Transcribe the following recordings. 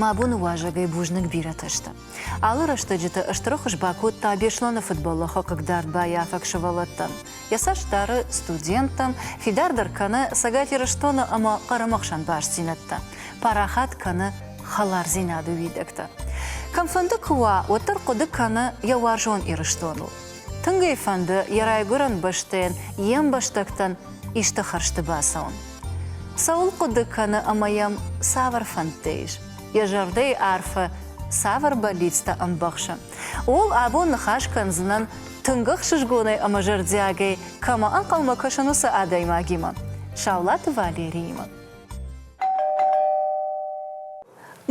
Мӕ боны уазӕгӕй бузныг бирӕтӕ сты. Алы рӕстӕджыты стыр хуыз бакодта Беслӕны футболы хыгъддард баййафӕг сывӕллӕттӕн. Йӕ цӕст дары студенттӕм, фидардӕр кӕны Цӕгат Ирыстоны ӕмӕ Хъырымы хсӕн бастдзинӕдтӕ, парахат кӕны хӕлардзинады уидӕгтӕ. Кӕмфӕнды куы уа, уӕддӕр хъуыды кӕны йӕ уарзон Ирыстоныл. Тынг ӕй фӕнды йӕ райгуырӕн бӕстӕйӕн йе мбӕстӕгтӕн исты хӕрзты бацӕуын. Цӕуыл хъуыды кӕны ӕмӕ йӕм цавӕр фӕндтӕ ис? Йӕ зӕрдӕйы арфӕ цавӕр бӕллицтӕ ӕмбӕхсы? Ууыл абон ныхас кӕндзынӕн тынг ӕхсызгонӕй ӕмӕ зӕрдиагӕй кӕмӕ ӕнхъӕлмӕ кӕсын уыцы адӕймагимӕ, Саулаты Валериимӕ.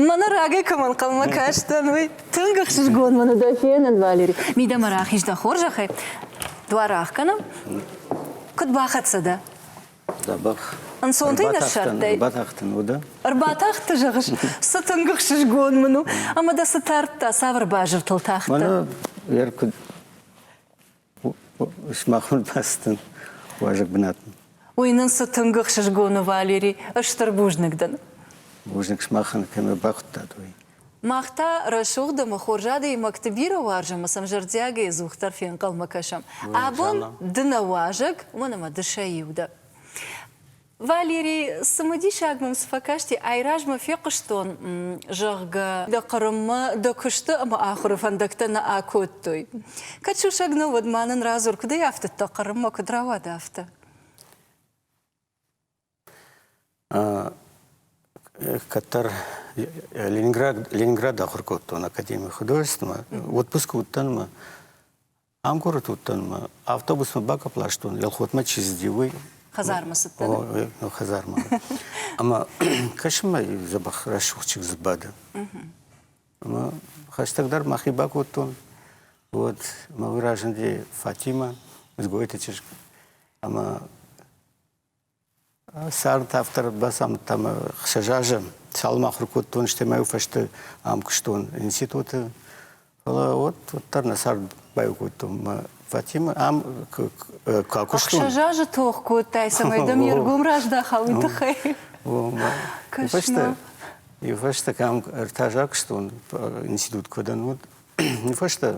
Мӕнӕ рагӕй кӕмӕн хъӕлмӕ кастӕн, уый тынг ӕхсызгон мын дӕ фенын, Валери. Мидӕмӕ рахиз дӕ хорзӕхӕй. Дуар ӕхгӕнӕм. Куыд бахӕццӕ дӕ? Да бӕх. Ӕнцонтӕй ныссардтай? Ӕрбатахтӕн, уыдӕ? Ӕрбатахты, зӕгъыс? Цы тынг ӕхсызгон мын у, ӕмӕ дӕ цы тардта, цавӕр базыртыл тахтӕ? Мӕнӕ йӕ куыд. Сымахмӕ бӕстын уазӕг бынатын. Уый нын цы тынг ӕхсызгон у, Валери, стыр бузныг дын. Бузныг сымахӕн, кӕмӕ бахуыдтат, уый. Мах та рӕсугъд ӕмӕ хорз адӕймӕгты бирӕ уарзӕм ӕмӕ сӕм зӕрдиагӕй ӕдзухдӕр фенхъӕлмӕ кӕсӕм. Абон ды нӕ уазӕг уын ӕмӕ ды сӕ иу дӕ. Валерий, цымыдисаг мӕм цы фӕкасти, айразмӕ фехъуыстон, зӕгъгӕ, дӕ Хъырыммӕ дӕ куысты ӕмӕ ахуыры фӕндӕгтӕ нӕ акодтой. Кӕд сусӕг нӕ, уӕд ма нын радзур, куыд ӕй афтыдта Хъырыммӕ, куыд рауад афтӕ? Кӕддӕр Ленинград, Ленинград ахуыр кодтон академийы художественмӕ. Отпуск уыдтӕн мӕ Ӕмкуырот уыдтӕн, автобусмӕ бакӕпыл ластон, Елхотмӕ чи цыди, уый. Хӕдзармӕ цыдтӕн? О, хӕдзармӕ. Ӕмӕ кӕсын мӕ дзӕбӕх рӕсугъдчыг дзы бады. Ӕмӕ хӕстӕгдӕр мӕхи бакодтон. Вот мӕ разынди Фатимӕ, Мызгойты чызг. Ӕмӕ Цард автор бацамыдта мӕ ӕхсӕз азы. Цалынмӕ ахуыр кодтон, стӕмӕй фӕсте ам куыстон институты. Фӕлӕ вот, уӕддӕр нӕ цард баиу кодтон мӕ Фатимӕ. Ам куы куыстон. Ӕхсӕз азы тох кодтай, цӕмӕй дӕм йе ргом раздахал, уый тыххӕй. Иу фӕстӕ, иу фӕстӕ кӕм ӕртӕ азы куыстон институт куыдӕн уыд, уый фӕстӕ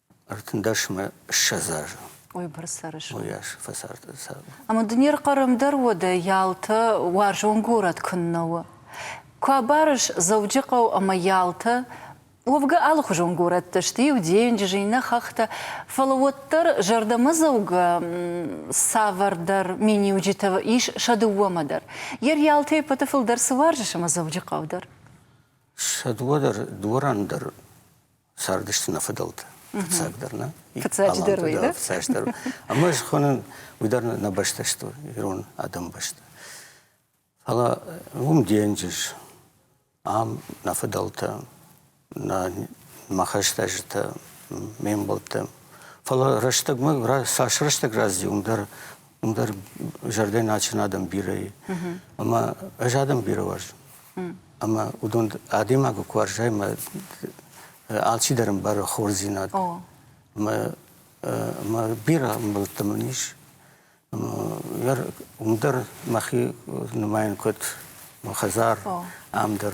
Ӕртындӕсмӕ ссӕдз азы. Уыйбӕрц цӕрыс? Уыйас фӕцард цардмӕ. Ӕмӕ дын не рхъарӕм дӕр уӕдӕ Ялтӕ уарзон горӕт куыннӕ у. Куы абарыс Дзӕуджыхъӕу ӕмӕ Ялтӕ, уӕвгӕ алыхуызон горӕттӕ сты, иу денджыз, иннӕ хӕхтӕ, фӕлӕ уӕддӕр зӕрдӕмӕдзӕугӕ цавӕрдӕр миниуджытӕ ис сӕ дыууӕмӕ дӕр. Йе рйалтӕй ӕппӕты фылдӕр цы уарзыс ӕмӕ Дзӕуджыхъӕу дӕр? Сӕ дыууӕ дӕр, дворӕн дӕр цардысты нӕ фыдӕлтӕ. Фыццагдӕр нӕ? Фыццаджыдӕр уый, да? Фыццаджыдӕр. Ӕмӕ ӕз хонын, уый дӕр нӕ бӕстӕ сты, ирон адӕмы бӕстӕ. Фӕлӕ уым денджыз, ам нӕ фыдӕлтӕ, нӕ мӕ хӕстӕджытӕ, ме мбӕлттӕ. Фӕлӕ рӕстӕгмӕ, цас рӕстӕг разы уым дӕр ӕндӕр зӕрдӕ нӕ ачын адӕм бирӕ и. Ӕмӕ ӕз адӕм бирӕ уарзын. Ӕмӕ уыдон адӕймагы куы уарзай, мӕ алчидӕр ӕмбары хорздзинад. Ӕмӕ ӕмӕ бирӕ ӕмбӕлттӕ мын ис. Уым дӕр мӕхи нымайын куыд мӕ хӕдзар, ам дӕр.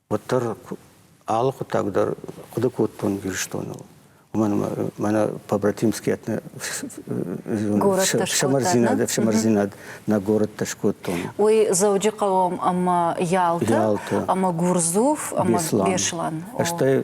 уӕддӕр алы хъуыддаг дӕр хъуыды кодтон Ирыстоныл. Уымӕн ӕмӕ мӕнӕ побратимские ӕфсымӕрдзинад, ӕфсымӕрдзинад нӕ горӕттӕ скодтон. Уый Дзӕуджыхъӕуы ӕмӕ Ялты ӕмӕ Гурдзув ӕмӕ Беслан. Стӕй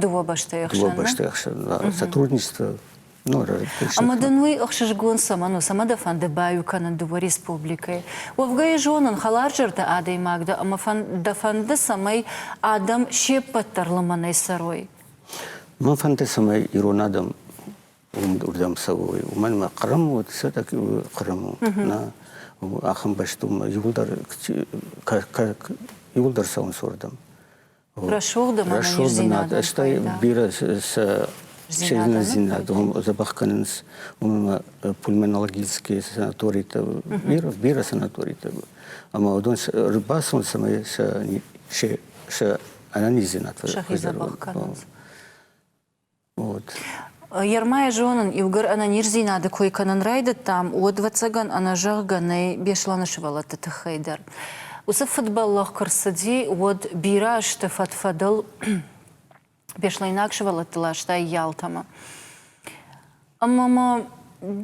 Дыууӕ бӕстӕйы хсӕн. Дыууӕ бӕстӕйы хсӕн сотрудничество Ну, Ӕмӕ дын уый ӕхсызгон цӕмӕн у? Цӕмӕ дӕ фӕнды баиу кӕнын дыууӕ республикӕйы? Уӕвгӕйӕ зонын, хӕларзӕрдӕ адӕймаг дӕ ӕмӕ дӕ фӕнды, цӕмӕй адӕм се ппӕт дӕр лымӕнӕй цӕрой. Мӕ фӕнды, цӕмӕй ирон адӕм уырдӕм цӕуой. Уымӕн ӕмӕ Хъырым уыд, все-таки Хъырым у. Нӕ ахӕм бӕсты иуылдӕр иуылдӕр цӕуынц уырдӕм. Рӕсугъддзинад, стӕй бирӕ сӕ серьезнодзинад дзӕбӕх кӕнынц уымӕ пульмонологические санаторитӕ, бирӕ, бирӕ санаторитӕ. Ӕмӕ уыдон ӕрбацӕуын цӕмӕй сӕ сӕ ӕнӕниздзинад фӕзӕгъон. Ермӕ зонын, иугӕр ӕнӕниздзинады кой кӕнын райдыдтам, уӕд, ӕвӕццӕгӕн, ӕнӕзӕгъгӕ нӕй Беслӕны сывӕллӕтты тыххӕй дӕр. Уыцы фыдбӕллӕх куы рцыди, уӕд бирӕ азты фӕд-фӕдыл беслӕйнаг сывӕллӕтты ластай Ялтӕмӕ. Ӕмӕ ма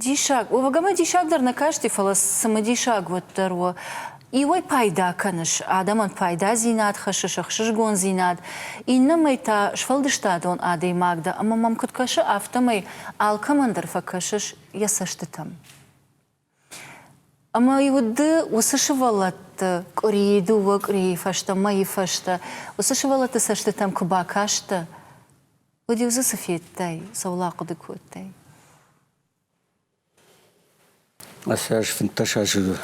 диссаг, уӕвгӕ диссаг дӕр нӕ касти, фӕлӕ цымыдисаг уӕддӕр у. Иуӕй пайда кӕныс, адӕмӕн пайдадзинад хӕссы сӕ хсызгондзинад, иннӕмӕй та сфӕлдыстадон адӕймаг дӕ ӕмӕ мӕм куыд кӕсы, афтӕмӕй алкӕмӕн дӕр фӕкӕсыс йӕ цӕстытӕм. Ӕмӕ уыды уыцы сывӕллӕтты къуырийы дыууӕ къуырийы фӕстӕ, мӕйы фӕстӕ уыцы сывӕллӕтты цӕстытӕм куы бакастӕ, уӕд-иу дзы цы федтай, цӕуыл ахъуыды кодтай? Ацы аз фынддӕс азы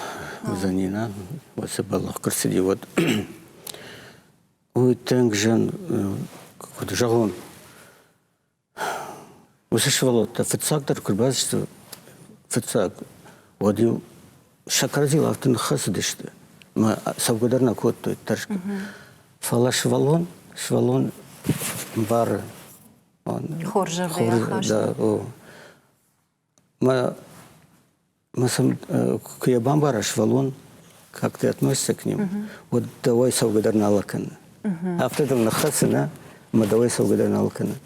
уыдзӕни на, уыцы бӕллӕх куы рцыди, уӕд уый тынг зын, куыд зӕгъон, Уыцы сывӕллӕттӕ фыццагдӕр куы рбацыдысты фыццаг, уӕд-иу сӕ кӕрӕдзийыл афтӕ ныххӕцыдысты ӕмӕ цӕугӕ дӕр нӕ кодтой тӕрсгӕ. Фӕлӕ сывӕллон, сывӕллон ӕмбары. Хорзӕрдыйӕ хӕссы. Да, о. Мӕ мӕ сын куы йӕ бамбара сывӕллон, как ты относишься к ним, уӕд дӕуӕй цӕугӕдӕр нал кӕны. Афтӕ дыл ныххӕцын, а? Ӕмӕ дӕуӕй цӕугӕдӕр нал кӕны.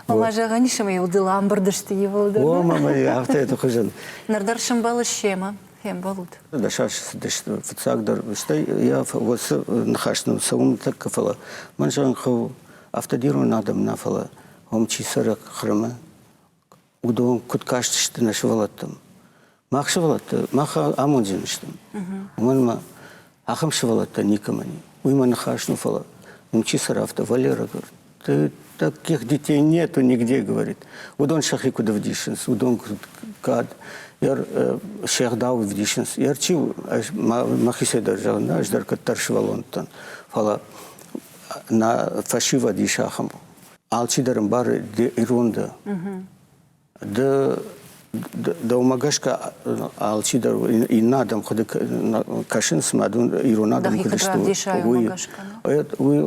Ӕмӕ зӕгъӕн ис, ӕмӕ ӕвдыл амбырд сты иууыл дӕр. О, ма мӕ афтӕ эты хуызӕн. Ныр дӕр сӕмбӕлыс семӕ? Фембӕлд? Дӕсаст цыдысты, фыццагдӕр, стӕй йӕ уыцы ныхас нын цӕуын тӕккӕ фӕлӕ мӕн зӕгъын хъӕуы, афтӕ дирон адӕм нӕ, фӕлӕ уым чи цӕры Хъырымы, уыдон куыд кастысты нӕ сывӕллӕттӕм. Мах сывӕллӕттӕ, мах амондджын сты. Уымӕн ӕмӕ ахӕм сывӕллӕттӕ никӕмӕн и. Уыимӕ ныхас, ну, фӕлӕ, ну, чи сӕрафта, Валера говорит, ты таких детей нету нигде, говорит. Уыдон сӕхи куыд ӕвдисынц, уыдон куыд кад, ер сӕгъдау ӕвдисынц. Ер чи махи дӕр зӕгъ, нӕ, ӕз дӕр кӕддӕр сывӕллонтӕн, фӕлӕ нӕ фӕсивӕд ис ахӕм. Алчидӕр ӕмбары ды ирон дӕ. Ды дӕумӕ гӕсгӕ алчидӕр иннӕ адӕм хъуыды кӕсынц, цыма дын ирон адӕм куыд сты, уый. Уый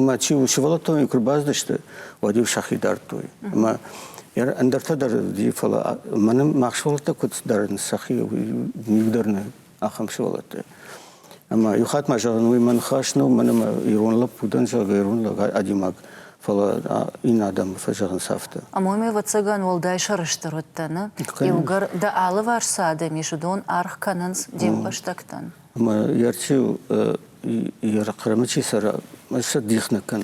мӕ чи у сывӕллӕттон куы бацыдысты, уӕд-иу сӕхи дардтой. Ӕмӕ ӕндӕртӕ дӕр уыди, фӕлӕ мӕнӕ мах сывӕллӕттӕ куыд дарынц сӕхи, уый дӕр нӕ ахӕм сывӕллӕтты. Ӕмӕ иу хатт ма зӕгъын, уый мӕ ныхас нӕу, мӕн ӕмӕ ирон лӕппу дӕн, зӕгъгӕ, ирон лӕг, адӕймаг, фӕлӕ иннӕ адӕмы фӕзӕгъынц афтӕ. Амоми, ӕвӕццӕгӕн, уӕлдай сӕрыстыр уыдтӕ нӕ? Иугӕр дӕ алыварс цы адӕм ис, уыдон аргъ кӕнынц де мбӕстӕгтӕн. Ӕмӕ Ярчи, Ерыхъырымы чи цӕра, сӕ дих нӕ кӕн.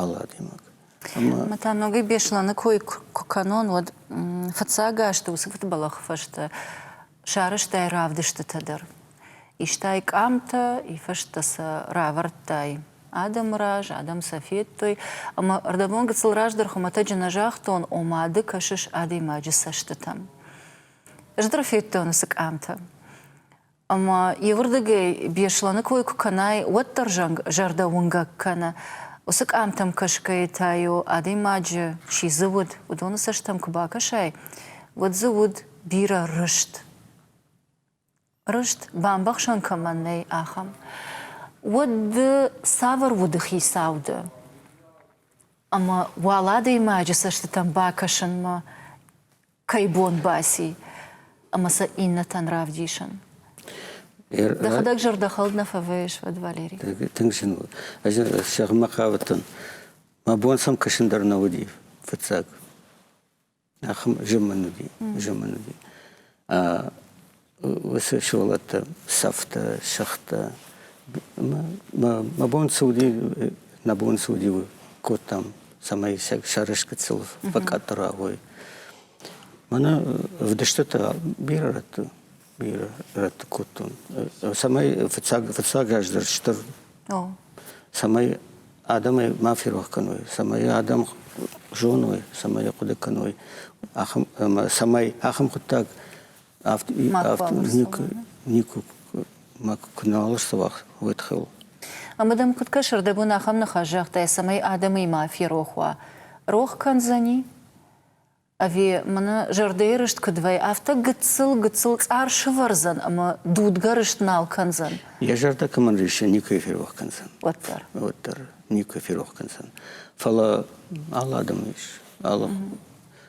алы адӕймаг. Ӕмӕ та ногӕй Беслӕны кой куы кӕнон, уӕд фыццаг азты уыцы фыдбӕлӕхы фӕстӕ сарӕзтай равдыстытӕ дӕр. Истай къамтӕ, ифӕстӕ сӕ равӕрдтай адӕмы раз, адӕм сӕ федтой. Ӕмӕ ӕрдӕбон гыццыл раздӕр хуымӕтӕджы нӕ загътон, ома ды кӕсыс адӕймаджы цӕстытӕм. Ӕз дӕр федтон уыцы къамтӕ. ӕмӕ иуырдыгӕй Беслӕны кой куы кӕнай, уӕддӕр зӕнг зӕрдӕуынгӕг кӕны. Уыцы къамтӕм кӕсгӕйӕ та-иу адӕймаджы чи дзы уыд, уыдоны цӕстӕм куы бакӕсай, уӕд дзы уыд бирӕ рыст. Рыст бамбӕхсӕн кӕмӕн нӕй, ахӕм. Уӕд цавӕр уды хицау ды? Ӕмӕ уал адӕймаджы цӕстытӕм бакӕсынмӕ кӕй бон баци ӕмӕ сӕ иннӕтӕн равдисын? Дӕхӕдӕг зӕрдӕхӕлд нӕ фӕвӕййыс уӕд, Валерий? Тынг зын у. Ӕз зӕгъынмӕ хъавыдтӕн, мӕ бон сӕм кӕсын дӕр нӕ уыди, фыццаг. Ахӕм зын мын уыди, зын мын уыди. уыцы сывӕллӕттӕ сӕфтӕ, сӕгътӕ. Мӕ бон цы уыди, нӕ бон цы уыди, кодтам, цӕмӕй сӕ сӕрыскъуыддзыл фӕкъӕддырӕгой. Мӕнӕ ӕвдыстытӕ бирӕ рӕтты бирӕ рӕтты кодтон. Цӕмӕй фыццаг, фыццаг аз дӕр стыр. Цӕмӕй адӕмӕй ма ферох кӕной, цӕмӕй адӕм зоной, цӕмӕй хъуыды кӕной, ахӕм, цӕмӕй ахӕм хъуыддаг Ӕмӕ дӕм куыд кӕсы, дӕ бон ахӕм ныхас загътай, цӕмӕй адӕмыимӕ ферох уа? Рох кӕндзӕни? Ӕви мын зӕрдӕйы рыст куыд вӕййы, афтӕ гыццыл-гыццыл цъар сывӕрдзӕн ӕмӕ дудгӕ рыст нал кӕндзӕн? Йӕ зӕрдӕ кӕмӕн риссы, никӕй ферох кӕндзӕн. Уӕддӕр. Уӕддӕр никӕй ферох кӕндзӕн. Фӕлӕ алы адӕмы ис, алы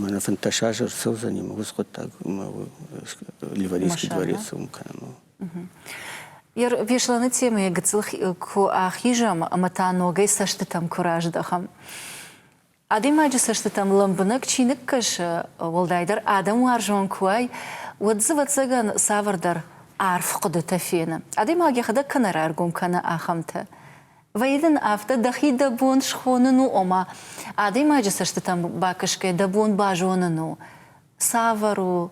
Мӕнӕ фынддӕс аз ӕрцӕудзӕни мӕ уыцы хъуыддаг Ливарийский дворец уым кӕнын. Беслӕны темӕйы гыццыл куы ахизӕм ӕмӕ та ногӕй цӕстытӕм куы раздӕхӕм. Адӕймаджы цӕстытӕм лӕмбынӕг чи ныккӕсы, уӕлдайдӕр адӕм уарзон куы уай, уӕд дзы, ӕвӕццӕгӕн, цавӕрдӕр арф хъуыдытӕ фены. Адӕймаг йӕхӕдӕг кӕнӕ раргом кӕны ахӕмтӕ. Вӕййы дын афтӕ, дӕхи дӕ бон схонын у, ома адӕймаджы цӕстытӕм бакӕсгӕ дӕ бон базонын у, цавӕр у,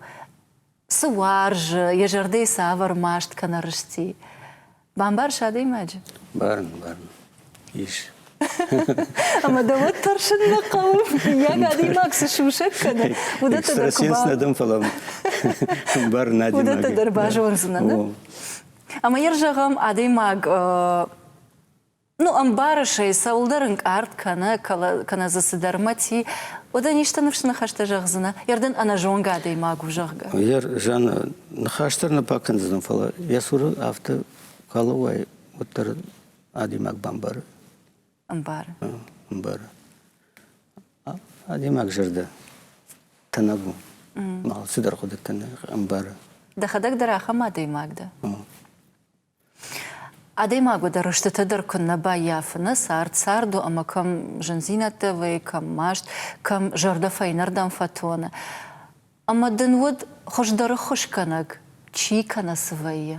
цы уарзы, йӕ зӕрдӕйы цавӕр маст кӕнӕ рысти. Бамбарыс адӕймаджы? Бӕрн, бӕрн. Ис. Ӕмӕ дӕ уӕд тӕрсын нӕ хъӕуы, мыййаг адӕймаг цы сусӕг кӕны, уыдӕттӕ дӕр куы ба... дӕн, фӕлӕ бӕрн адӕймаг. Уыдӕттӕ дӕр базондзынӕ, нӕ? Ӕмӕ йӕ зӕгъӕм, адӕймаг ну, ӕмбары сӕ, цӕуылдӕр ӕнкъард кӕнӕ, кӕнӕ дзы цыдӕр мӕти, уӕд ӕн исты ныфс ныхӕстӕ зӕгъдзынӕ, йӕрдӕн ӕнӕзонгӕ адӕймаг у, зӕгъгӕ. Йӕ зианы ныхас дӕр нӕ бакӕндзынӕн, фӕлӕ йӕ цуры афтӕ калы уай, уӕддӕр адӕймаг бамбары. Ӕмбары. Ӕмбары. Адӕймаг зӕрдӕ тӕнӕг у. Алцыдӕр хъуыдыты ӕмбары. Дӕхӕдӕг дӕр ахӕм адӕймаг дӕ? Адӕймаг уыды рыстыты дӕр куыннӕ баййафыны, цард царду ӕмӕ кӕм зындзинӕдтӕ вӕййы, кӕм маст, кӕм зӕрдӕ фӕйнӕрдӕм фӕтоны. Ӕмӕ дын уыд хуыздӕр ӕххуысгӕнӕг, чи кӕнӕ цы вӕййы?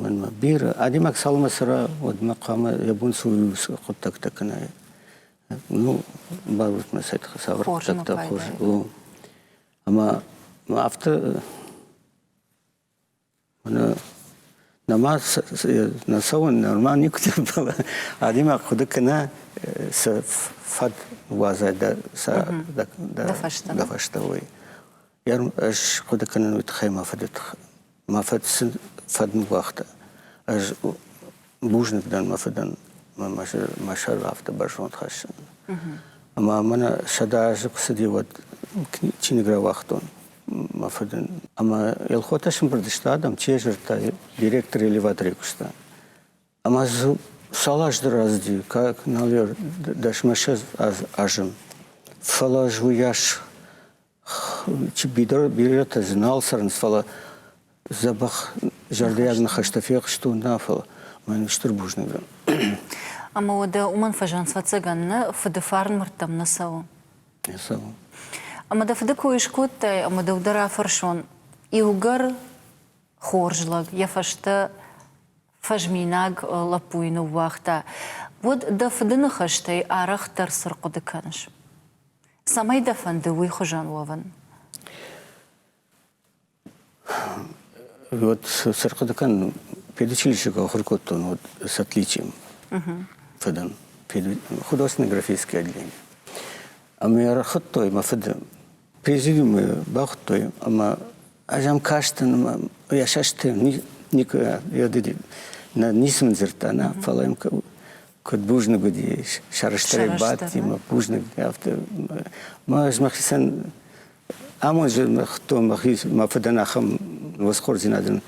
Мӕнмӕ бирӕ адӕймаг цалынмӕ цӕра, уӕдмӕ хъуамӕ йӕ бон sul уыцы хъуыддӕгтӕ кӕнай. Ну, барут мӕ сӕ тыххӕй цавӕр хъуыддӕгтӕ хорз у. Ӕмӕ мӕ афтӕ мӕнӕ нӕма нӕ цӕуын нормально никуыдӕр адӕймаг хъуыды кӕна сӕ фӕд уадзай дӕ фӕстӕ уый. Ӕз хъуыды кӕнын уый тыххӕй мӕ фыды тыххӕй. Мӕ фыд сын фӕдын уагъта. Ӕз бузныг дӕн мӕ фыдӕн мӕ сӕр афтӕ бӕрзонд хӕссынӕн. Ӕмӕ мӕнӕ сӕдӕ азы куы цыди, уӕд чиныг рауагътон мӕ фыдӕн. Ӕмӕ Елхотӕ сымбырд сты адӕм, чи йӕ дзырдта, директор элеваторӕй куыста. Ӕмӕ дзы цал азты рӕзыди, наверное, дӕсмӕссӕдз азы. Фӕлӕ ӕз уыйас бирӕтӕ дзы нал цӕрынц, фӕлӕ дзӕбӕх зӕрдиаг ныхӕстӕ фехстон, нӕ, фӕлӕ мӕн стыр бузныг дӕн. Ӕмӕ уӕдӕ уымӕн фӕзынд фӕцӕгӕн нӕ фыды фарнмӕрдтӕм нӕ цӕуы? Не цӕуы. Ӕмӕ дӕ фыды кой скодтай, ӕмӕ дӕу дӕр афӕрсон, иугӕр хорз лӕг йӕ фӕстӕ фӕзминаг лӕппуйы ныууагъта, уӕд дӕ фыды ныхӕстӕй арӕхдӕр цы рхъуыды кӕныс? Цӕмӕй дӕ фӕнды уый хуызӕн уӕвын? Вот цы рхъуыды кӕнын, педучилище куы ахуыр кодтон, вот с отличием фӕдӕн художественно-графическое отделение. Ӕмӕ ӕрхуыдтой мӕ фыды президиумы бахуыдтой ӕмӕ Ӕз ӕм кастӕн ӕмӕ йӕ сӕсты никуы нӕ ницы мын дзырдта, нӕ, фӕлӕ йӕм куыд бузныг уыди, сӕрыстырӕй бадти, бузныг, афтӕ. Ӕз мӕхицӕн амонджы мыхтон мӕхи мӕ фыдӕн ахӕм восхордзинадӕн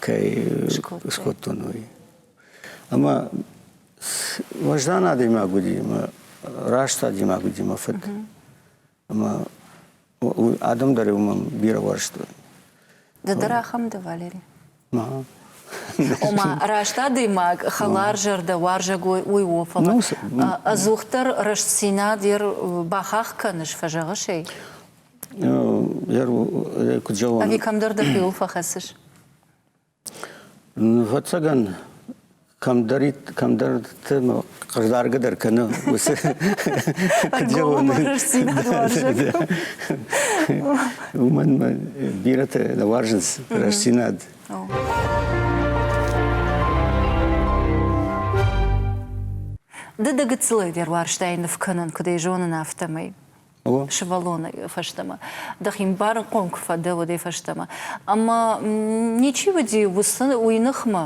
кӕй скодтон, уый. Ӕмӕ уӕздан адӕймаг уыди, раст адӕймаг уыди мӕ фыд. Ӕмӕ адӕм дӕр уымӕн бирӕ уарзтой. Ды дӕр ахӕм дӕ, Валери? Ома, раст адӕймаг, хӕларзӕрдӕ, уарзӕгой, уый у, фӕлӕ ӕдзухдӕр рӕстдзинад йӕ бахахх кӕныс, фӕзӕгъыс ӕй? Куыд зӕгъон? Ӕви кӕмдӕр дӕхиуыл фӕхӕцыс? Ӕвӕццӕгӕн, кӕмдӕрты хъыгдаргӕдӕр кӕны уыцы уымӕн мӕ бирӕтӕ уарзынц рӕстдзинад. Ды дӕ гыццылӕй дӕр уарзтай ныв кӕнын, куыд ӕй зонын, афтӕмӕй. сывӕллоны фӕстӕмӕ. Дӕхи мбарынхъом куы фӕдӕ, уӕдӕй фӕстӕмӕ. Ӕмӕ ничи уыди уыцы уый ныхмӕ.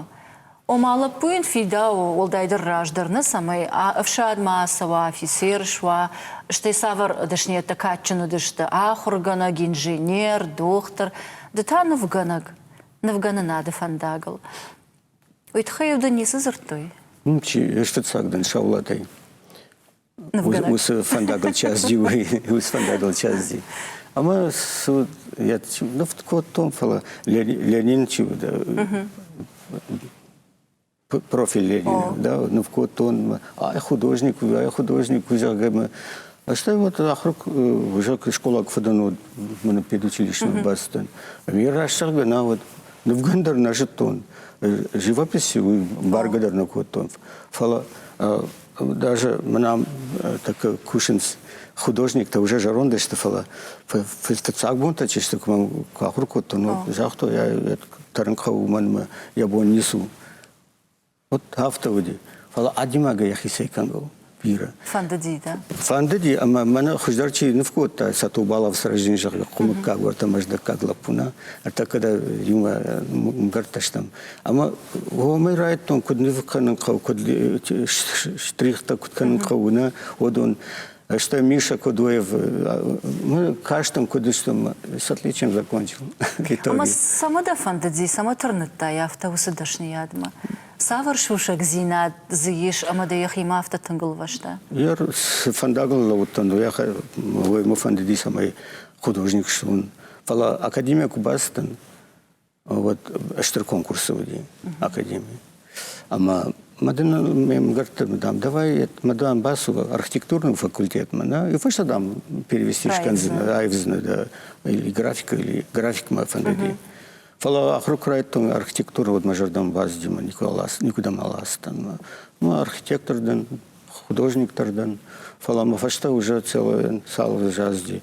Ома, лӕппу йын фидауы, уӕлдайдӕр раздӕр нӕ, цӕмӕй ӕфсадмӕ ацӕуа, афицер суа. Стӕй цавӕр дӕсныйӕдтӕ кадджын уыдысты, ахуыргӕнӕг, инженер, дохтыр, ды та нывгӕнӕг, нывгӕнынады фӕндагыл. Уый тыххӕй-иу дын ницы дзырдтой? Ничи, ыстыццаг дын сӕ улӕтӕй. уыцы фӕндагыл части уыцы фӕндагыл части ӕмӕ я ныфт кодтон фӕлӕ ленин чи профиль ленина да ныв кодтон ай художник у ай художник у зӕгъгӕ Астӕм вот ахрык уже школа кфыдын мын педучилищную бастын. Мне рассагы на вот нывгандыр нажыттон. Живописи баргадыр накоттон. Фала Даже мынӕм так кусынц художниктӕ уже зӕронд сты, фӕлӕ фыццаг бонтӕ чи сты, куы мӕм куы ахуыр кодтон, уӕд загътой, я тӕрынхъӕуы уымӕн йӕ бон ницу. Вот афтӕ уыди. Фӕлӕ адимагӕй йӕхицӕй кӕнгӕ бирӕ. Фӕндыди, да? Фӕндыди, ӕмӕ мӕнӕ хуыздӕр чи ныв кодта, Сатобалов сразин зӕгъы, хъуымыккаг, уӕртӕ мӕздӕггаг лӕппу нӕ. Ӕртӕ кӕдӕ иумӕ мгӕрттӕ стӕм. Ӕма уомӕй райдтон, куд нив кӕнун хъӕу, куд штрихтӕ куд кӕнун хъӕу, нӕ, уодон. Стӕй Миша Кудуев, мы кастам, куыд стӕм, с отличием закончил Литовий. Ӕмӕ цӕмӕ дӕ фӕндыди, цӕмӕ тырныдтай афтӕ уыцы дӕсныйадмӕ? Цавӕр сусӕгдзинад дзы ис ӕмӕ дӕ йӕхимӕ афтӕ тынг лвӕста? Я цы фӕндагыл лӕууыдтӕн, уӕ мӕ фӕндыди, цӕмӕй художник суон. Фӕлӕ академийӕ куы бацыдтӕн, уӕд стыр конкурсы уыди академи. Ӕмӕ ма дын ме мгӕртты, дам, давай ма дам бацу архитектурный факультетмӕ, да, и фӕстӕ дам перевести шканзина, айвзина, да, или графика, или графикмӕ фӕндыди. Фӕлӕ ахуырк райдтон архитектуру вот мӕ зӕрдӕм баздзимӕ никуда, никуда ма ластан. Ну, архитектор ден, художниктор ден, фӕлӕ мӕ фӕстӕ уже целый сал уже азди.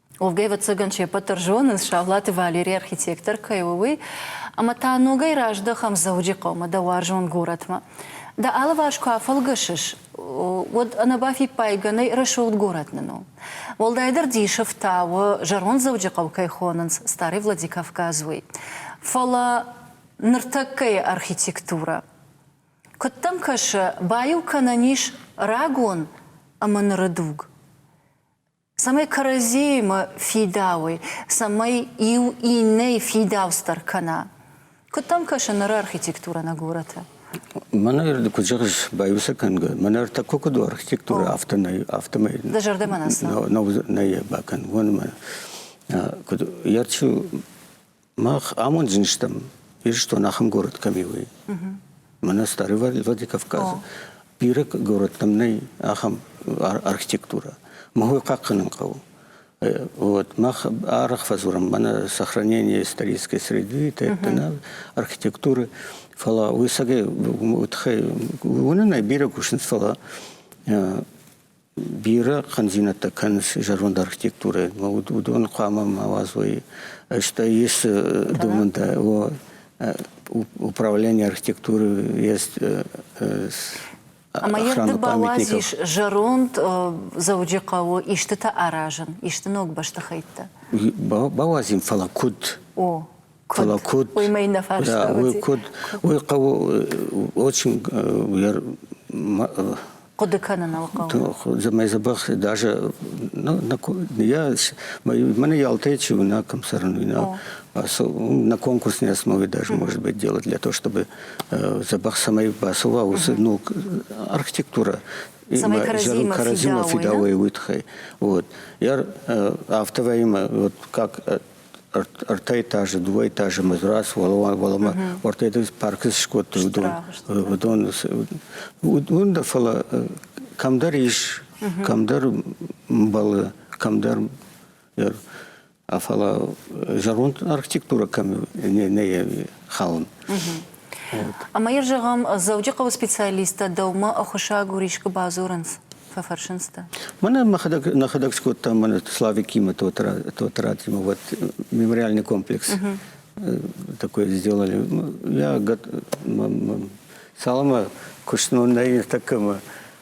Увгӕ, ӕвӕццӕгӕн, се ппӕт дӕр зонынц, Саулаты Валери архитектор кӕй у, уый, ӕмӕ та ногӕй раздӕхӕм Дзӕуджыхъӕумӕ, дӕ уарзон горӕтмӕ. Дӕ алыварс куы афӕлгӕсыс, уӕд ӕнӕбафиппайгӕ нӕй рӕсугъд горӕт нын у. Уӕлдайдӕр дисы фтауы, зӕронд Дзӕуджыхъӕу кӕй хонынц Старый Владикавказ, уый. Фӕлӕ ныртӕккӕйы архитектурӕ куыд дӕм кӕсы? Баиу кӕнӕн ис рагон ӕмӕ ныры дуг. цӕмӕй кӕрӕдзиимӕ фидауой, цӕмӕй иу иннӕйы фидауц дӕр кӕна. Куыд дӕм кӕсы ныры архитектурӕ нӕ горӕты? Мӕнӕ куыд зӕгъыс, баиу сӕ кӕнгӕ. Мӕнӕ ӕртӕккӕ куыд у архитектурӕ, афтӕ нӕй, афтӕмӕй. Дӕ зӕрдӕмӕ нӕ цӕ? Нӕу, нӕй нӕй бакӕн. Уон мӕ куыд йӕ чи Мах амондзин стӕм, Ирыстон ахӕм город кӕми у. Мӕнӕ Старый Владикавказ. Бирӕ городтам нӕй ахӕм архитектура. Махуй хъахъхъӕнын хъӕуы. Вот, мах арах фазурам, мана сохранение исторической среды, тайттана, архитектуры, фала уйсаге утхай, унынай бирӕ кушынц, фала Бирӕ хъӕндзинӕдтӕ кӕнынц зӕронд архитектурӕйы. Уыдон хъуамӕ ма уадзой, стӕй ис домӕнтӕ, управление архитектуры есть Ӕмӕ йе рдыг бауадз ис зӕронд Дзӕуджыхъӕуы истытӕ аразын, исты ног бӕстыхӕйттӕ. Бауадзим, фӕлӕ куыд? О. Фӕлӕ куыд? Да, уый куыд? Уый хъӕуы очень хъуыды кӕныныл хъӕуы. Зӕмӕй забах даже я mana ялтай чего на комсорнуйна на конкурс не смогли даже может быть делать для того чтобы забах самой басова ну архитектура Каразимов фидауя вытхай вот я автовоим вот как ӕртӕ этажы, дыууӕ этажы мы раз уӕлӕмӕ уӕртӕ дын паркы скодтой уыдон. Уыдон уын да фӕлӕ кӕмдӕр ис, кӕмдӕр мбӕлы, кӕмдӕр фӕлӕ зӕронд архитектура кӕм не хауын. Ӕмӕ йыр зӕгъӕм, Дзӕуджыхъӕуы специалисттӕ дӕумӕ ӕххуысагур искуы бадзурынц? Фӕфӕрсынц дӕ. Мӕнӕ мӕхӕдӕг нӕхӕдӕг скодтам мӕнӕ Славикимы Тотратимы вот мемориальный комплекс. Такой сделали. Я салама кушну на такому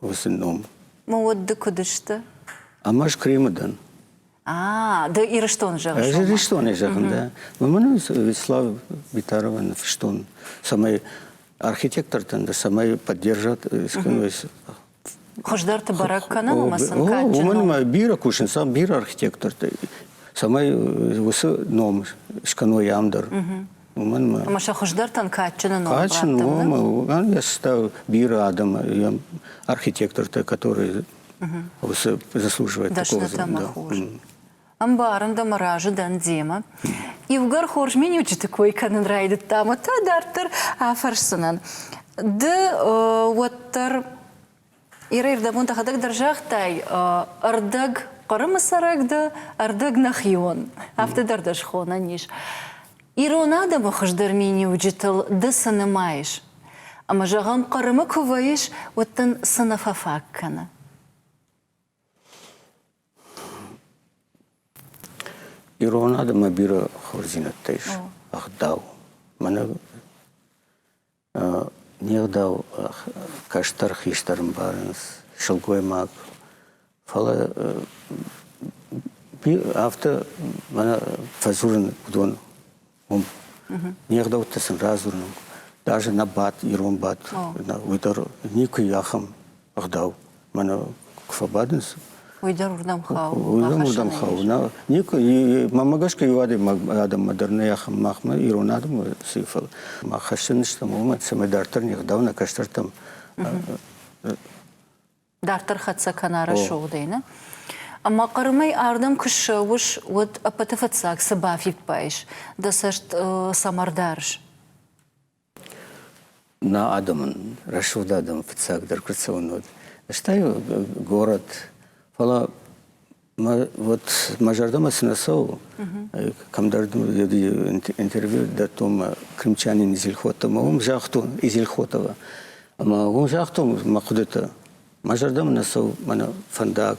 уыцы ном. Мӕ уд ды куыд сты? Ам ӕз Кремы дӕн. А, ды Ирыстон зӕгъыс? Ӕз Ирыстонӕй зӕгъын, да. Мӕн Вячеслав Битарова ныфыстон, цӕмӕй архитектортӕн дӕр цӕмӕй поддержат скӕной Хуыздӕрты бӕрӕг кӕнын уымӕ сын кадджын Уымӕн ма бирӕ кусынц, ам бирӕ архитектортӕ, цӕмӕй уыцы ном скӕной ам дӕр. уымӕн мӕ ӕмӕ сӕ хуыздӕртӕн кадджыны ном кадджын у ӕрста бирӕ адӕм йӕм архитектортӕ которые уыцы заслуживают такого звания ӕмбарын дӕ мӕ разы дӕн демӕ иугӕр хорз миниуджыты кой кӕнын райдыдтам уӕд та дарддӕр афӕрсдзынӕн ды уӕддӕр Иры ирдӕбон дӕхӕдӕг дӕр загътай, ӕрдӕг Хъырымы цӕрӕг дӕ, ӕрдӕг нӕхион. Афтӕ дӕр дӕ схонӕн ис. Ирон адӕмы хуыздӕр миниуджытыл ды цы нымайыс? Ӕмӕ, зӕгъӕм, Хъырымы куы вӕййыс, уӕд дын цы нӕ фӕфаг кӕны? Ирон адӕмы бирӕ хорздзинӕдтӕ ис, ӕгъдау. Мӕнӕ Не гъдау кӕстӕр хистӕр ӕмбарынц, сылгоймаг. Фӕлӕ афтӕ мӕнӕ фӕдзурын уыдон уым. Не гъдӕуттӕ сын радзурын. Даже нӕ бадт, ирон бадт, уый дӕр никуы и ахӕм ӕгъдау. Мӕнӕ куы фӕбадынц, уый дӕр уырдӕм хауы. Уырдӕм уырдӕм хауы. Никуы мӕмӕ гӕсгӕ иу адӕммӕ дӕр нӕй ахӕм махмӕ ирон адӕмы сыф. Мах хӕссӕн стӕм уымӕ, цӕмӕй дарддӕр не гъдау нӕ кӕстӕртӕм Дарддӕр хӕццӕ кӕна рӕсугъдӕй, нӕ? Ӕмӕ Хъырымӕй ардӕм куы ссӕуыс, уӕд ӕппӕты фыццаг цы бафиппайыс? Дӕ цӕст цӕмӕ рдарыс? Нӕ адӕмӕн, рӕсугъд адӕмы фыццагдӕр куы цӕуын уӕд, ӕз та горӕт. Фӕлӕ мӕ вот мӕ зӕрдӕмӕ цы нӕ цӕуы, кӕмдӕр интервью дӕттон мӕ крымчанин Изельхотовмӕ, уым загътон Изельхотова. Ӕмӕ уым загътон мӕ хъуыдытӕ. Мӕ зӕрдӕмӕ нӕ цӕуы мӕнӕ фӕндаг,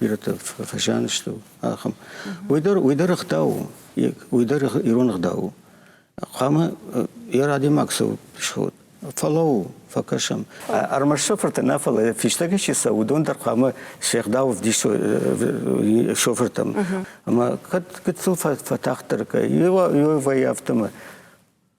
бирӕтӕ фӕзианысты ахӕм уый дӕр уый дӕр ӕгъдау уый дӕр ирон ӕгъдау у хъуамӕ йӕ адӕймаг сӕ сход фӕлӕуу фӕкӕсӕм ӕрмӕст шофыртӕ нӕ фӕлӕ фистӕгӕй чи цӕуы уыдон дӕр хъуамӕ се гъдау ӕвдисой шофыртӕм ӕмӕ кӕд гыццыл фӕтагъддӕр кӕй иуӕй автомат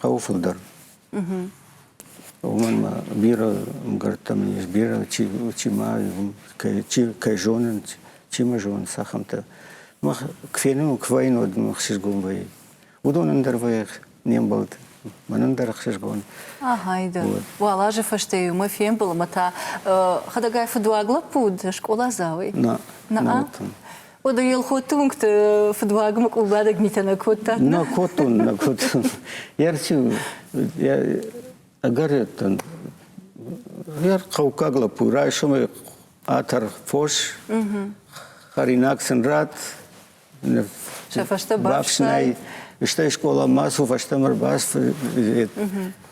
Хъӕуы фылдӕр. Уымӕн ӕмӕ бирӕ мгӕрттӕ мын ис, бирӕ чи, чи ма кӕй, чи кӕй зонын, чи ма зонын цахӕмтӕ. Мах куы фенон, куы вӕййын, уӕд мӕ ӕхсызгон вӕййы. Уыдон ӕндӕр вӕййы не мбӕлд. Мӕн ӕндӕр ӕхсызгон. Ахайда. Уал азы фӕстӕ иумӕ фембыл ӕмӕ та хӕдӕгай фыдуаг лӕппу уыд скъоладзауӕй. Нӕ. Нӕ. Уӕдӕ Елхотты уынгты фыдуагмӕ къулбадӕг митӕ нӕ кодта? Нӕ кодтон, нӕ кодтон. Ертиу, ӕгӕреттӕн. Ер хъӕуккаг лӕппу, райсомӕй атар фос, хӕринаг сын рад, сӕ фӕстӕ бафснай. Стӕй скъоламӕ цу фӕстӕмӕ ӕрбаф,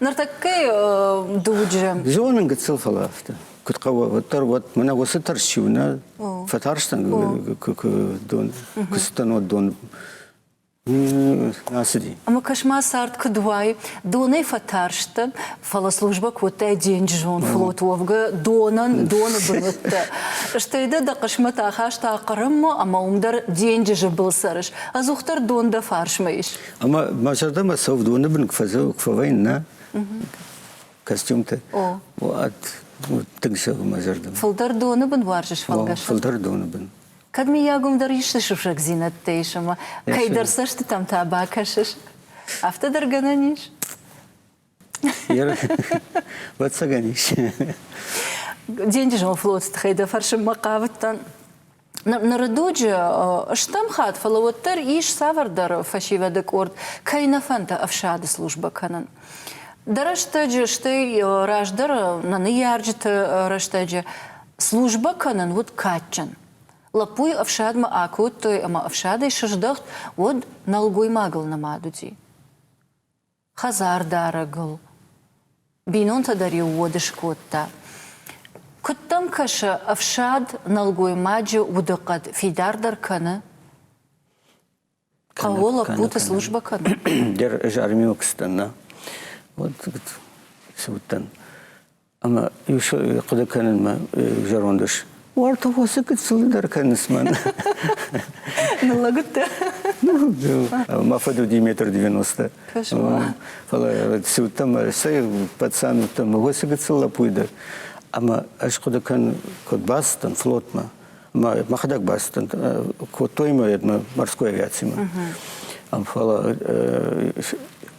Ныртӕккӕ дуджы. Зонын гыццыл фӕлӕ афтӕ. Куыд хъӕуы, уӕддӕр уӕд мӕнӕ уыцы тӕрс чи у, нӕ фӕтарстӕн дон, куы цыдтӕн уӕд дон Ацыди. Ӕмӕ кӕс-ма цард куыд уай, донӕй фӕтарст дӕ, фӕлӕ службӕ кодтай денджызон флот уӕвгӕ донӕн доны бынӕттӕ. Стӕй дӕ дӕ хъысмӕт ахаста Хъырыммӕ ӕмӕ уым дӕр денджызы был цӕрыс. Ӕдзухдӕр дон дӕ фарсмӕ ис. Ӕмӕ мӕ зӕрдӕмӕ цӕуы доны бын куы фӕвӕййын, нӕ? Костюмтӕ. Тынг цӕуы мӕ зӕрдӕмӕ. Фылдӕр доны бын уарзыс фӕлгӕсӕн? Фылдӕр доны бын. Кӕд, мыййагом, дӕр исты сусӕгдзинӕдтӕ ис ӕмӕ кӕйдӕр цӕстытӕм та бакӕсыс, афтӕ дӕр гӕнӕн ис? Вацаган ис. Денджызон флотс тыхӕй дӕ фӕрсынмӕ хъавыдтӕн. Ныры дуджы стӕм хатт, фӕлӕ уӕддӕр ис цавӕрдӕр фӕсивӕды къорд, кӕй нӕ фӕнды ӕфсады службӕ кӕнын. Дӕ рӕстӕджы, стӕй раздӕр нӕ ныййарджыты рӕстӕджы службӕ кӕнын уыд кадджын. Лӕппуйы ӕфсадмӕ акодтой ӕмӕ ӕфсадӕй сыздӕхт, уӕд нӕлгоймагыл нымад уыди. хӕдзардарӕгыл. Бинонтӕ дӕр-иу уод скодта. Куыд дӕм кӕсы, ӕфсад нӕлгоймаджы удыхъӕд фидардӕр кӕны? Хъӕуы лӕппуты службӕ кӕны? Дер из армии Узбекистана. Вот, говорит, если вот там Ӕмӕ иу хъуыды кӕнынмӕ зӕронд ус. Уартӕ фӕсы гыццыл дӕр кӕныс мӕн. Ныллӕгыдтӕ? Ну, мӕ фыд уыди метр девяносто. Фӕлӕ цы уыдтӕн, цӕй пацан уыдтӕн, уыцы гыццыл лӕппуй дӕр. Ӕмӕ ӕз хъуыды кӕн, куыд бацыдтӕн флотмӕ. Мӕхӕдӕг бацыдтӕн, кодтой мӕ морской авиацимӕ. Фӕлӕ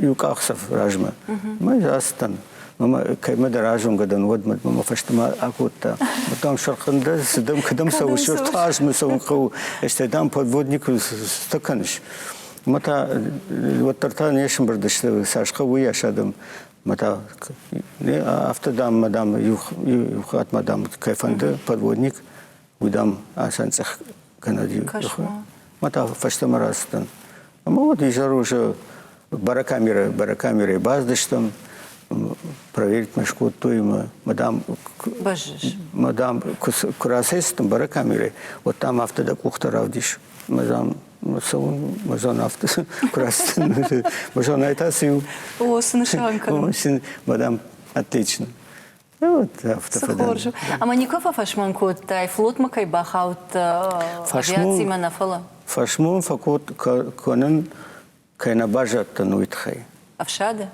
Иу къахдзӕф размӕ мӕ ацыдтӕн. Мӕмӕ кӕмӕдӕр азонгӕ дӕн, уӕдмӕ мӕмӕ фӕстӕмӕ акодта. Дам сӕрхъын дӕ, дам кӕдӕм цӕуыс, фарсмӕ цӕуын хъӕуы, стӕй дам подводнику стӕ кӕныс. Мӕ та уӕддӕр та не сӕмбырдысты цас хъӕуыйас адӕм. Мӕ та афтӕ, дам, дам иу хатт ма дам кӕй фӕнды подводник, Удам асӕнцъӕх кӕнӕ ди ма та фӕстӕмӕ рацыдтӕн. Ӕмӕ уӕд изӕр уже барокамерӕ, барокамерӕйы баздыстӕм, проверить мӕ скодтой мӕ мадам бӕззыс мадам куы куы рацӕйцыдтӕн барокамерӕйы уӕд там афтӕ дӕ къухтӕ равдис мадам цӕуын мадам афтӕ куы рацыдтӕн мадам та цы у о цы нысан кӕнын мадам отлично Хорз. Ӕмӕ никуы фӕфӕсмон кодтай, флотмӕ кӕй бахаудтӕ, авиацимӕ нӕ фӕлӕ? Фӕсмон фӕкӕнын кӕй нӕ баззадтӕн, уый тыххӕй. Ӕфсады?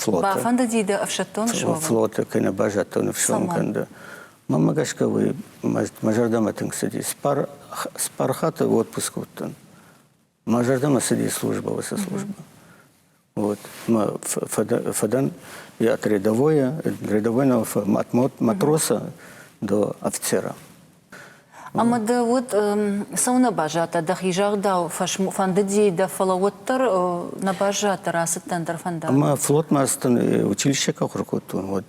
Флоты. Бафӕнды диды ӕфсӕддон суӕвын? Флоты кӕй нӕ баззадтӕн ӕфсӕн кӕнды. Мамӕ гӕсгӕ уый мӕ зӕрдӕмӕ тынг цыдис. Спархаты отпуск уыдтӕн. Мӕ зӕрдӕмӕ цыди службӕ, уыцы службӕ. Вот. Мă fădăm, iată, redăvoie, redăvoie матроса до офицера. Ӕмӕ дӕ уыд цӕуынӕ баззадтӕ, дӕхи загъдау фӕндыди дӕ, фӕлӕ уӕддӕр нӕ баззадтӕ, рацыдтӕн дӕр фӕндаг. Ӕмӕ флотмӕ ацыдтӕн, училище кӕхуыр кодтон, вот.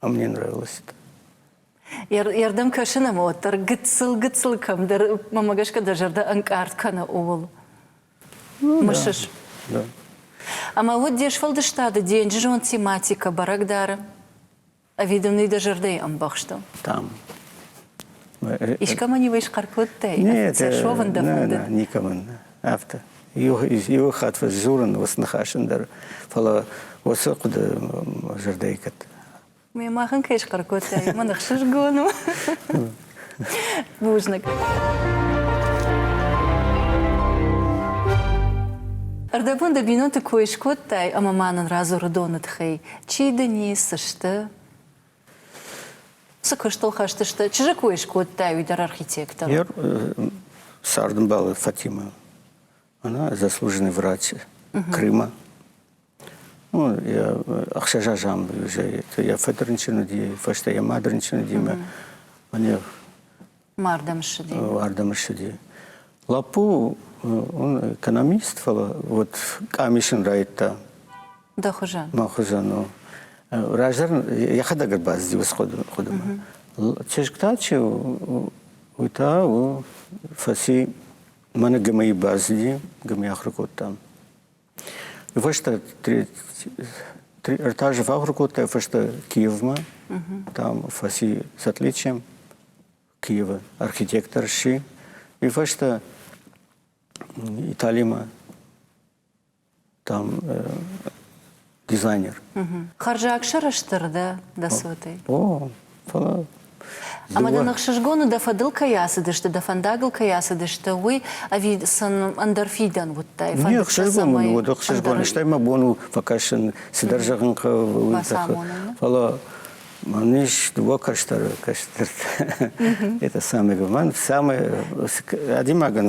мне нравилось это. Ierдӕм кӕсын ӕмӕ уӕддӕр гыццыл-гыццыл кӕмдӕр, мӕмӕ гӕсгӕ дӕ зӕрдӕ ӕнкъард кӕны ууыл. Ну, Мысыс? Да. да. Ӕмӕ уыд де сфӕлдыстады денджызон тематикӕ бӕрӕг дары? Ӕви дын уый дӕ зӕрдӕйы ӕмбӕхсты? Там. Э, э, Искӕмӕн-иу исхъӕр кодтай? Нет, э, совын дӕ фӕнды? Нē, нē, никӕмӕн. Афтӕ. иу иу хатт фӕдзурын уыцы ныхасӕн дӕр, фӕлӕ уыцы хъуыды зӕрдӕйы кӕд. Ме махӕн кӕй схъӕр кодтай, мӕн ӕхсызгон у. Бузныг. Ӕрдӕбон дӕ бинонты кой скодтай ӕмӕ ма нын радзуры доны тыхӕй, чи дын и, цы сты? Цы куыстыл хӕстысты? Чызджы кой скодта уый дӕр архитектор. Я сардымбалы Фатима. Она заслуженный врач Крыма. Ну, я ӕхсӕзазам уже. Я фӕдрынчын уыди, фӕстӕ я мадырынчын уыди, мӕ мне Ардӕм ссыди. Ардӕм ссыди. Лаппу, он экономист, фӕлӕ вот къамисын райдта. Дӕ хуызӕн? Мӕ хуызӕн. Раздӕр йӕхӕдӕг ӕрбацыди уыцы хъуыдымӕ. Чызг та чи у, уый та у фӕци мӕнӕ ГМИ баззи, ГМИ ахуыр кодтам. Фӕстӕ ӕртӕ азы фӕахуыр кодтай фӕстӕ Киевмӕ. Там фӕци с отличием Киева. Архитектор сси. И фӕстӕ Италимӕ там дизайнер. Хъӕрзаг сӕрыстыр дӕ дӕ цотӕй. О, фӕлӕ Ӕмӕ дӕ ныхсызгоны дӕ фӕдыл кӕй ацыдысты, дӕ фӕндагыл кӕй ацыдысты, уый ӕви сын ӕндӕр фидӕн уыдтай? Не ӕхсызгон у, уӕд ӕхсызгон, стӕй мӕ бон у фӕкӕсын, цыдӕр зӕгъын хъӕуы уый тыххӕй. Фӕлӕ мӕн ис дыууӕ кӕстӕры кӕстӕртӕ. Это самое главное. Самое адӕймагӕн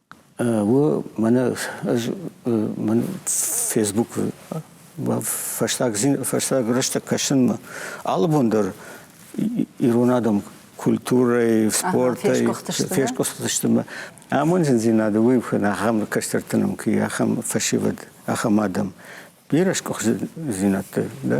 У мӕнӕ ӕз мӕн фейсбукы фӕстаг фӕстаг рӕстӕг кӕсынмӕ алыбон дӕр ирон адӕм культурӕйы спортӕй фесгуыхтысты мӕ амондзиндзинады уый уыдзӕн ахӕм кӕстӕрты ном-кй ахӕм фӕсивӕд ахӕм адӕм бирӕ сгуыхтдзинӕдтӕ да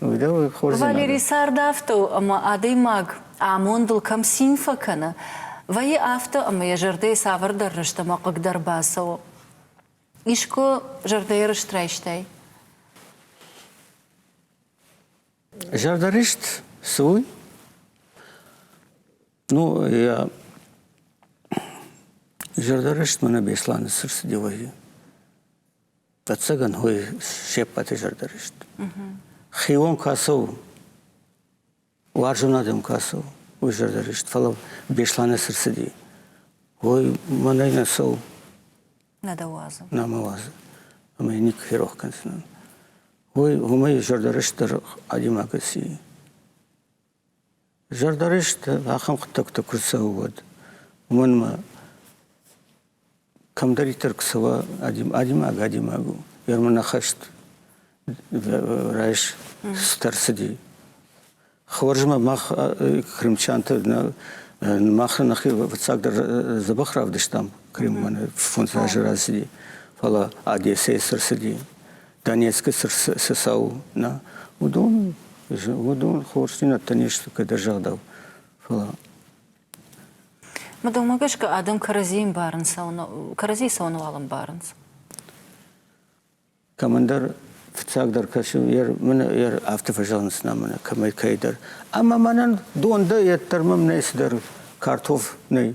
Валерий цардӕфтау ӕмӕ адӕймаг амондыл кӕм цин фӕкӕны, вӕййы афтӕ, ӕмӕ йӕ зӕрдӕйы цавӕрдӕр рыст ӕмӕ хъыгдӕр бацӕуы. Искуы зӕрдӕйы рыст райстай? Зӕрдӕрыст цы у? Ну, я зӕрдӕрыст мӕнӕ Бесланы сыр цы делайы. Ӕвӕццӕгӕн уый се ппӕты зӕрдӕ рыст. Хион куы ацӕуы, уарзон адӕм куы ацӕуы, уый зӕрдӕ рыст. Фӕлӕ Беслӕны цы рцыди, уый мӕнӕй нӕ цӕуы. Нӕ дӕ уадзы. Нӕ мӕ уадзы. Ӕмӕ йӕ никуы ферох кӕндзынӕн. Уый уымӕй зӕрдӕ рыст дӕр адӕймаг аци. Зӕрдӕрысты ахӕм хъуыддӕгтӕ куы цӕуы, уӕд уымӕн ӕмӕ кӕмдӕриддӕр куы цӕуа, адӕймаг адӕймаг у. Ӕрмӕн ахаст райс цытӕ рцыди. Хорз ӕмӕ мах крымчанты мах нӕхи фыццагдӕр дзӕбӕх равдыстам Криммӕн фондз азы рацыди, фӕлӕ Одессӕйы цы рцыди, Донецкы цы цау нӕ, уыдон, уыдон хорздзинӕдтӕ не сты кӕдӕр загъдау, фӕлӕ Мадомӕ гӕсгӕ адӕм кӕрӕдзи ӕмбарынц, кӕрӕдзи цауын уал ӕмбарынц. Кӕмӕндӕр фыццагдӕр кӕсы, йер афтӕ фӕзӕгъынц нӕ мӕнӕ кӕмӕй кӕйдӕр. Ӕмӕ мӕнӕн дон дӕ, йед дӕр мӕм нӕй цыдӕр картоф нӕй.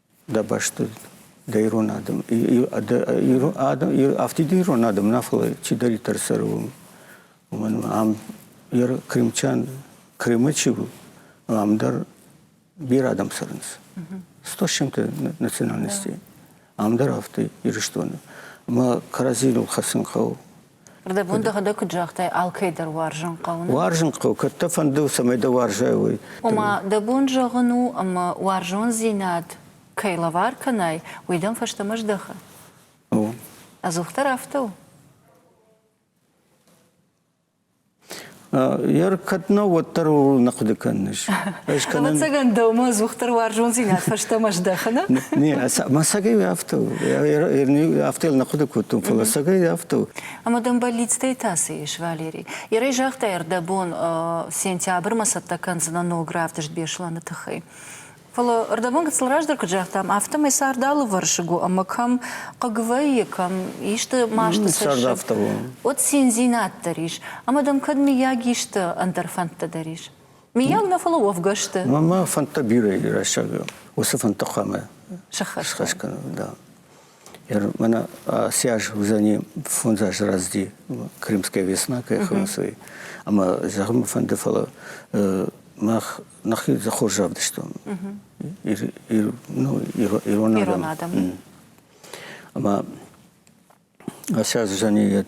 дӕ бӕсты дӕ ирон адӕм афтид ирон адӕм нафӕлӕ чидӕриддӕр цӕры уымӕн ам ир крымчан крымы чи у ам дӕр бирӕ адӕм цӕрынц сто с чем то национальностей ам дӕр афтӕ ирыстоны мӕ кӕрӕдзийыл хӕцын хъӕуы Рдӕбон дӕхӕдӕг куыд загътай, алкӕй дӕр уарзын хъӕуы. Уарзын хъӕуы, кӕд дӕ фӕнды, цӕмӕй дӕ уарзай, уый. Ома, дӕ бон зӕгъын у, ӕмӕ уарзондзинад кӕй лӕвар кӕнай, уый дӕм фӕстӕмӕ здӕхы. Ӕдзухдӕр афтӕ у? Ер кӕд нӕ, уӕддӕр ууыл нӕ хъуыды кӕныс. Ӕз кӕнын. Ӕвӕццӕгӕн дӕумӕ ӕдзухдӕр уарзондзинад фӕстӕмӕ здӕхыны? Не, мӕ сагӕй афтӕ у. Афтӕ йыл нӕ хъуыды кодтон, фӕлӕ сагӕй афтӕ у. Ӕмӕ дӕм бӕллицтӕй та цы ис, Валерий? Ерӕй загътай, ӕрдӕбон сентябрьмӕ цӕттӕ кӕндзынӕн ног равдыст Беслӕны тыххӕй. Фӕлӕ ӕрдӕбон гыццыл раздӕр куыд загътам, афтӕмӕй цард алывӕрсыг у ӕмӕ кӕм хъыг вӕййы, кӕм исты масты цӕссыгт, уӕд циндзинад дӕр ис. Ӕмӕ дӕм кӕд мыййаг исты ӕндӕр фӕндтӕ дӕр ис? Мыййаг нӕ, фӕлӕ уӕвгӕ сты. Мӕ фӕндтӕ бирӕ рӕстӕг уыцы фӕндты хъуамӕ сӕххӕст кӕнын. Да. Мӕнӕ ацы аз уыдзӕни фондз азы рӕзти Крымская весна, кӕй хонынц, ӕмӕ зӕгъын фӕнды, фӕлӕ мах нахи хорз равдыстон. Ирон адӕм. Ӕмӕ сейчас жаны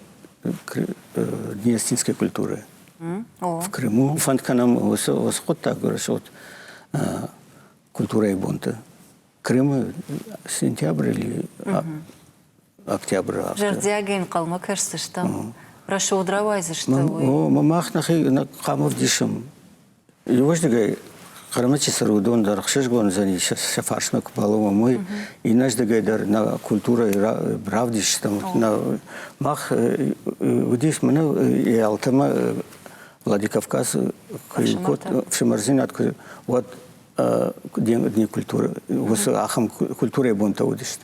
гиестинской культуры. В Крыму фанд кӕнам осы осы хъуыддаг гореш вот культурай бонты. Крымы сентябрь или октябрь август. Зӕрдиагӕй нхъӕлмӕ кӕсдзыстӕм. Рашод рауайдзыстӕм. О, мах нахи хъамов дишым. Иуӕздыгӕй хъырмычысыр уыдон дӕр ӕхсызгон уыдзӕни сӕ фарсмӕ куы балӕууӕм, уый. Иннӕздыгӕй дӕр нӕ культурӕйы равдисджытӕм нӕ мах уыдис мӕнӕ алтӕмӕ Владикавказ куы код ӕфсымӕрдзинад куы уӕд дни культуры уыцы ахӕм культурӕйы бонтӕ уыдысты.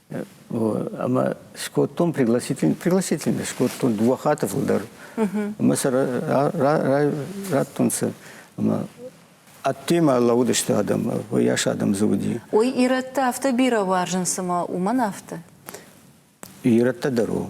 Ӕмӕ скодтон пригласительный, пригласительный скодтон дыууӕ хаты фылдӕр. Ӕмӕ сӕ радтонцӕ ӕмӕ ӕддемӕ лӕууыдысты адӕм, уыйас адӕм дзы уыди. Ой, ирӕттӕ афтӕ бирӕ уарзынц ӕмӕ уымӕн афтӕ? Ирӕттӕ дӕр у.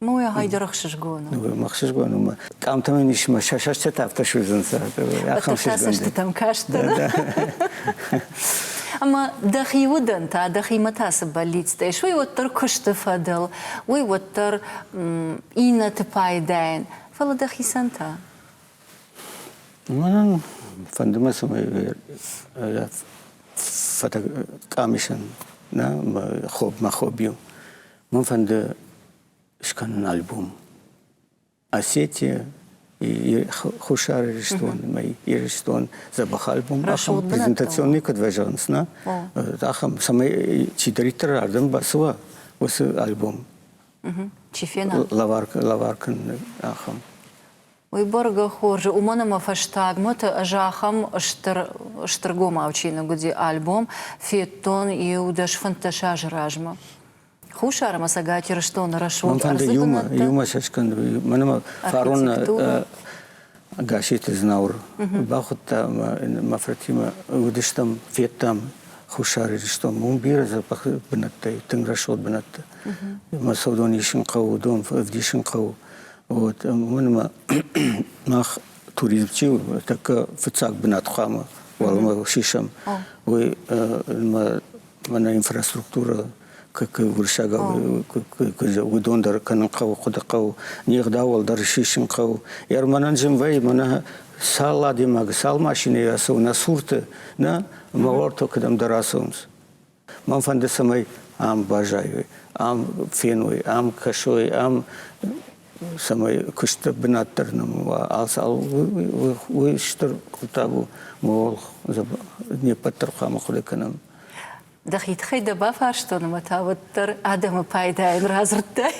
Ну, егъай дӕр ӕхсызгон у. Ӕхсызгон у. Къамтӕмӕн ис мӕ сӕсӕртӕ афтӕ суыдзӕнцӕ. Ахӕм сӕсӕртӕм кастӕн. Ӕмӕ дӕхи удӕн та, дӕхимӕ та цы бӕллицтӕ ис, уый уӕддӕр куысты фӕдыл, уый уӕддӕр иннӕты пайдайӕн, фӕлӕ дӕхицӕн та? Мӕнӕн фӕнды мӕ, цӕмӕй фӕтӕг къамисӕн, нӕ, мӕ хобби у Мын фӕнды скӕнын альбом Осетия и Хуссар Ирыстон ӕмӕ Ирыстон дзӕбӕх альбом ахӕм презентационный куыд вӕзӕнс на ахӕм цӕмӕй чидӕриддӕр ардӕм бацуа уыцы альбом чи фена лаваркӕн ахӕм Уый бӕргӕ хорзы, уымӕн ӕмӕ фӕстагмӕ та ӕз ахӕм стыр, стыргомау чиныг уыди альбом, федтон иу дӕс фынддӕс азы размӕ. Хуссар ӕмӕ Цӕгат Ирыстоны рӕсугъд ӕрдзыбынӕттӕ. Иумӕ сӕскӕндӕй мӕнмӕ фарон Гасситы Знауыр бахуыдта ӕмӕ мӕ фыртимӕ уыдыстӕм, федтам Хуссар Ирыстон. Уым бирӕ запахы бынӕттӕ и, тынг рӕсугъд бынӕттӕ. Мӕ цӕудон исын хъӕуы, дон ӕвдисын хъӕуы. Вот, уымӕ мах туризм чи у, тӕккӕ фыццаг бынат хъуамӕ уӕлӕмӕ сисӕм. Уый мӕнӕ инфраструктурӕ как уырыссаг уыдон дӕр кӕнын хъӕуы хъуыды хъӕуы не гъдауыл дӕр сисын хъӕуы ер мӕнӕн зын вӕйы мӕнӕ сал адӕймаг сал машинӕйы ацӕуы нӕ сурты нӕ мауартыл кӕдӕмдӕр ацӕуынц Мӕн фӕнды, цӕмӕй ам баззайой, ам феной, ам кӕсой, ам цӕмӕй куысты бынат дӕр нӕм уа. Уый стыр хъуыддаг у. Мы ол не ппӕт дӕр хъуамӕ ахъуыды кӕнӕм. Дӕхи тыххӕй дӕ бафарстон, ӕмӕ та уӕддӕр адӕмы пайдайӕн радзырдтай.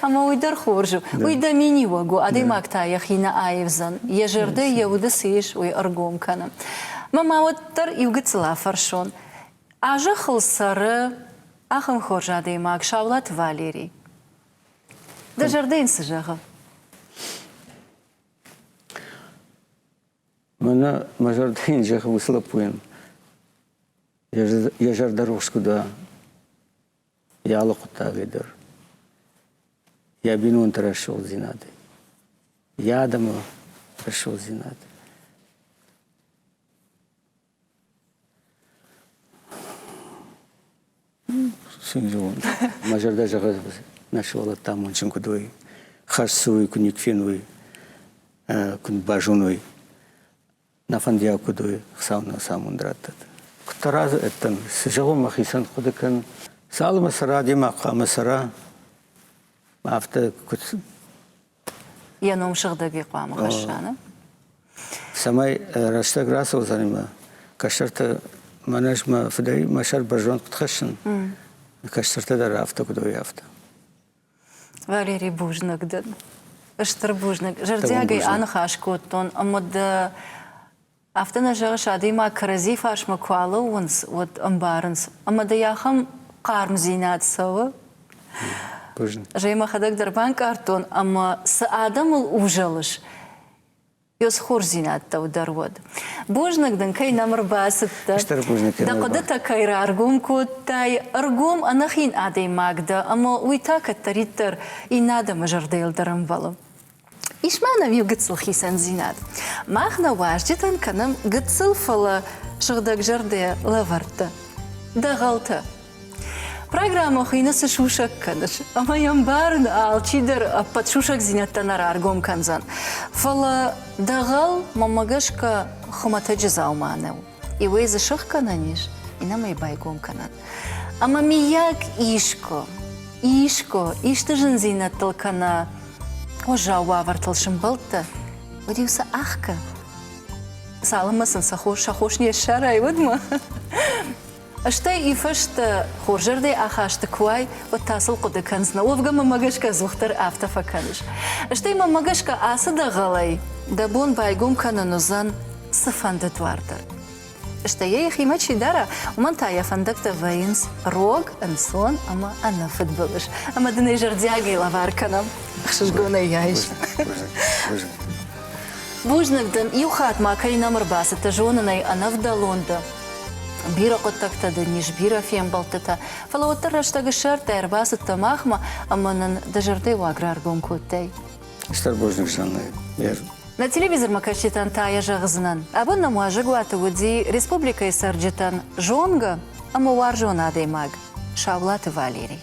Ӕмӕ уый дӕр хорз у. Уый дӕ миниуӕг у, адӕймаг та йӕхи нӕ аивдзӕн, йӕ зӕрдӕ, йӕ уды цы ис, уый ӕргом кӕны. Мӕ ма уӕд Уӕддӕр иу гыццыл афӕрсон, а зӕххыл цӕры ахӕм хорз адӕймаг Саулаты Валерий. Дӕ зӕрдӕ йын цы зӕгъы? Мӕнӕ мӕ зӕрдӕ йын зӕгъы уыцы лӕппуйӕн. Йӕ зӕрдӕ рухс куыд уа, йӕ алы хъуыддагӕй дӕр, йӕ бинонты рӕсугъддзинад, йӕ адӕмы рӕсугъддзинад. Мӕ зӕрдӕ зӕгъы, нӕ сывӕллӕттӕ амондджын куыд уой, хӕссой, куыд никуы феной, куыд базоной, нӕ фӕндиаг куыд уой, Хуыцау нын ацы амонд раттӕд. Куыддӕр азы ӕддӕн зӕгъон мӕхицӕн хъуыды кӕн, цалынмӕ цӕра, демӕ хъуамӕ цӕра, афтӕ куыд Йӕ ном сыгъдӕг-и хъуамӕ хӕсса, нӕ? Цӕмӕй рӕстӕг рацӕудзӕни мӕ кӕстӕртӕ мӕн ӕз мӕ фыдӕй мӕ сӕр бӕрзонд куыд хӕссын, кӕстӕртӕ дӕр афтӕ куыд уой, афтӕ. Валерий бузныг дын. Стыр бузныг. Зӕрдиагӕй аныхас кодтон ӕмӕ дӕ Афтӕ нӕ зӕгъыс, адӕймаг кӕрӕдзи фарсмӕ куы алӕууынц, уӕд ӕмбарынц, ӕмӕ дӕ ахӕм хъармдзинад цӕуы? Гъемӕ мӕхӕдӕг дӕр банкъардтон, ӕмӕ цы адӕмыл узӕлыс, йе схордзинӕдтӕу дӕр уӕд. Бузныг дын, кӕй нӕм ӕрбацыдтӕ, дӕ хъуыдытӕ кӕй раргом кодтай. Ӕргом, ӕнӕхин адӕймаг дӕ, ӕмӕ уый та кӕддӕриддӕр иннӕ адӕмы зӕрдӕйыл дӕр ӕмбӕлы. Ис ма нӕм иу гыццыл хицӕндзинад. Мах нӕ уазджытӕн кӕнӕм гыццыл, фӕлӕ сыгъдӕгзӕрдӕ лӕвӕрттӕ, дӕгъӕлтӕ. Программӕ хуыйны «Цы сусӕг кӕныс?» ӕмӕ йӕм барын алчидӕр ӕппӕт сусӕгдзинӕдтӕ нӕ раргом кӕндзӕн. Фӕлӕ дӕгъӕл, мӕнмӕ гӕсгӕ, хуымӕтӕджы дзаума нӕу. И уӕ дзы сыхгӕнӕн ис, инӕмӕй байгом кӕнӕн. Ӕмӕ миййаг искуы, искуы исты зындзинӕдтыл кӕнӕ уӕззау уавӕртыл сымбӕлдтӕ, уӕд-иу сӕ ӕхгӕ. Цалынмӕ сын сӕ хос, сӕ хос не ссарай, уӕдмӕ. Стӕй ифӕстӕ, хорзӕрдӕй ахӕсты куы уай, уӕд та сыл хъуыды кӕнынц, науӕвгӕ мӕмӕ гӕсгӕ ӕдзухдӕр афтӕ фӕкӕныс. Стӕй мӕмӕ гӕсгӕ ацы дӕгъӕлӕй дӕ бон байгом кӕнын уыдзӕн цыфӕнды дуар дӕр. Стӕй йӕ йӕхимӕ чи дара, уымӕн та йӕ фӕндӕгтӕ вӕййынц рог, ӕнцон ӕмӕ ӕнӕфыдбылыз. Ӕмӕ дын ӕй зӕрдиагӕй лӕвар кӕнӕм. Ӕхсызгонӕй йӕ айс. Бузныг дын, иу хатт ма кӕй нӕм ӕрбацыдтӕ, зонын ӕй ӕнӕвдӕлон дӕ. Бирӕ хъуыддӕгтӕ дын ис, бирӕ фембӕлдтытӕ. Фӕлӕ уӕддӕр рӕстӕгы сӕртӕ ӕрбацыдтӕ махмӕ ӕмӕ нын дӕ зӕрдӕйы уаг раргом кодтай. Стыр бузныг, Санна. Нӕ телевизормӕкӕсджытӕн та йӕ зӕгъдзынӕн, абон нӕм уазӕгуаты уыди республикӕйы цӕрджытӕн зонгӕ ӕмӕ уарзон адӕймаг Саулаты Валерий.